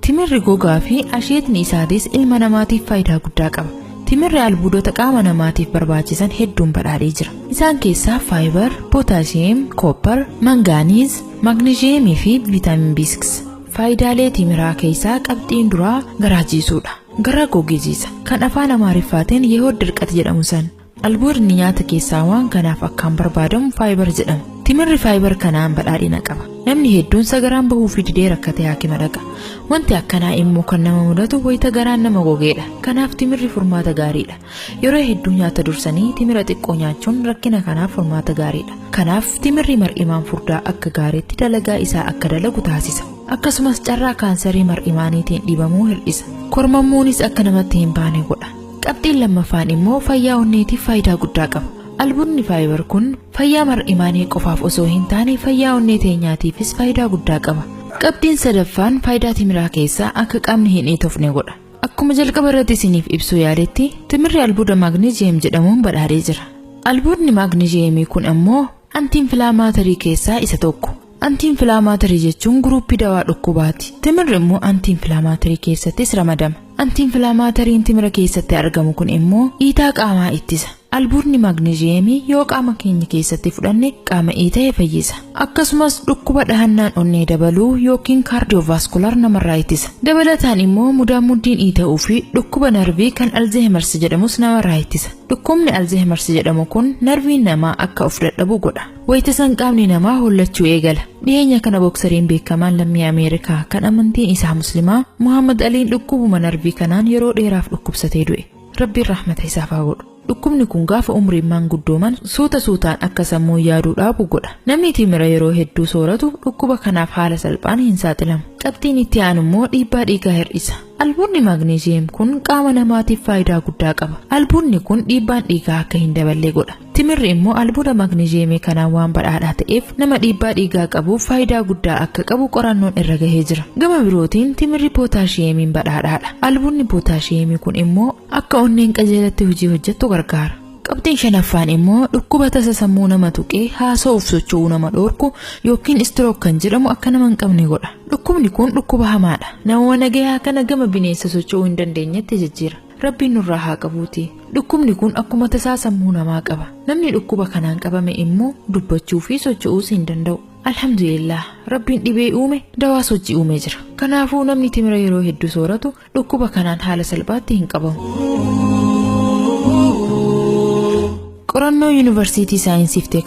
Timirri gogaa fi asheetni isaatis ilma namaatiif faayidaa guddaa qaba. Timirri albuudota qaama namaatiif barbaachisan hedduun badhaadhee jira. Isaan keessaa faayibar, pootaashiyeem, koopar, mangaaniiz, maagneezhiyeemii fi viitaamin B6. Faayidaalee timiraa keessaa qabxiin duraa garaa jiisuudha. Garaa gogejiisa. Kan afaan Amaariffaatiin yehood dirqati jedhamu san. Albuudni nyaata keessaa waan kanaaf akkaan barbaadamu faayibar jedhama. Timirri faayibar kanaan badhaadhina qaba. Namni hedduun sagaraan bahuu fi didee rakkatee haakima dhaqa. Wanti akkanaa immoo kan nama mudatu wayita garaan nama gogeedha. Kanaaf timirri furmaata gaariidha. Yeroo hedduu nyaata dursanii timira xiqqoo nyaachuun rakkina kanaaf furmaata gaariidha. Kanaaf timirri mar'imaan furdaa akka gaariitti dalagaa isaa akka dalagu taasisa. Akkasumas carraa kaansarii mar'imaaniitiin dhibamuu hir'isa. Kormammuunis akka namatti hin baane godha. Qabxiin lammaffaan immoo fayyaa onneetiif faayidaa guddaa qaba. Albunni faayibar kun fayyaa mar'imaanii qofaaf osoo hin taane fayyaa onnee teenyaatiifis faayidaa guddaa qaba. Qabxiin sadaffaan faayidaa timiraa keessaa akka qaamni hin iitofne godha. Akkuma jalqaba irratti isiniif ibsuu yaaletti timirri albuuda maagneeziyem jedhamuun badhaadhee jira. Albuudni maagneeziyemii kun ammoo antiinfilaamaatarii keessaa isa tokko. Antiinfilaamaatarii jechuun guruuppii dawaa dhukkubaati. Timirri immoo antiinfilaamaatarii keessattis ramadama. Antiinfilaamaatariin timira keessatti argamu kun immoo iitaa qaamaa ittisa. Albuudni maagneezhiyeemii yoo qaama keenya keessatti fudhanne qaama iita'e fayyisa. Akkasumas dhukkuba dhahannaan onnee dabaluu yookiin kaardiyoovaaskular namarraa ittisa. Dabalataan immoo mudaanmuddiin iita'uu fi dhukkuba narvii kan Alzeehimarsi jedhamus namarraa ittisa. Dhukkubni Alzeehimarsi jedhamu kun narviin namaa akka of dadhabu godha. Wayita san qaamni namaa hollachuu eegala. Dhiyeenya kana boksariin beekamaan lammii Ameerikaa kan amantiin isaa Muslimaa Muhammad Aliin dhukkubuma narvii kanaan yeroo dheeraaf dhukkubsatee du'e. Rabbiin rahmata isaaf haa godhu. Dhukkubni kun gaafa umriin maanguddooman suuta suutaan akka sammuun yaaduu dhaabu godha. Namni timira yeroo hedduu sooratu dhukkuba kanaaf haala salphaan hin saaxilamu. Qabxiin itti aanu immoo dhiibbaa dhiigaa hir'isa. Albuunni maagneeziyem kun qaama namaatiif faayidaa guddaa qaba. Albuunni kun dhiibbaan dhiigaa akka hin daballe godha. Timirri immoo albuuda magneezhiyeemii kanaan waan badhaadhaa ta'eef nama dhiibbaa dhiigaa qabuuf faayidaa guddaa akka qabu qorannoon irra gahee jira. Gama birootiin timirri pootaashiyeemiin badhaadhaadha. Albuudni pootaashiyeemii kun immoo akka onneen qajeelatti hojii hojjettu gargaara. Qabxiin shanaffaan immoo dhukkuba tasa sammuu nama tuqee haasa'uuf socho'uu nama dhoorku yookiin istirook kan jedhamu akka nama hin qabne godha. Dhukkubni kun dhukkuba hamaadha. Namuma nagayaa kana gama bineensa socho'uu hin dandeenyetti jijjiira. Rabbiin nurraa haa qabuuti. Dhukkubni kun akkuma tasaa sammuu namaa qaba. Namni dhukkuba kanaan qabame immoo dubbachuu fi socho'uus hin danda'u. Alhamdulillah Rabbiin dhibee uume dawaa sochii uumee jira. Kanaafuu namni timira yeroo hedduu sooratu dhukkuba kanaan haala salphaatti hin qabamu. Qorannoo Yuunivarsiitii Saayinsii fi Teeknooloojii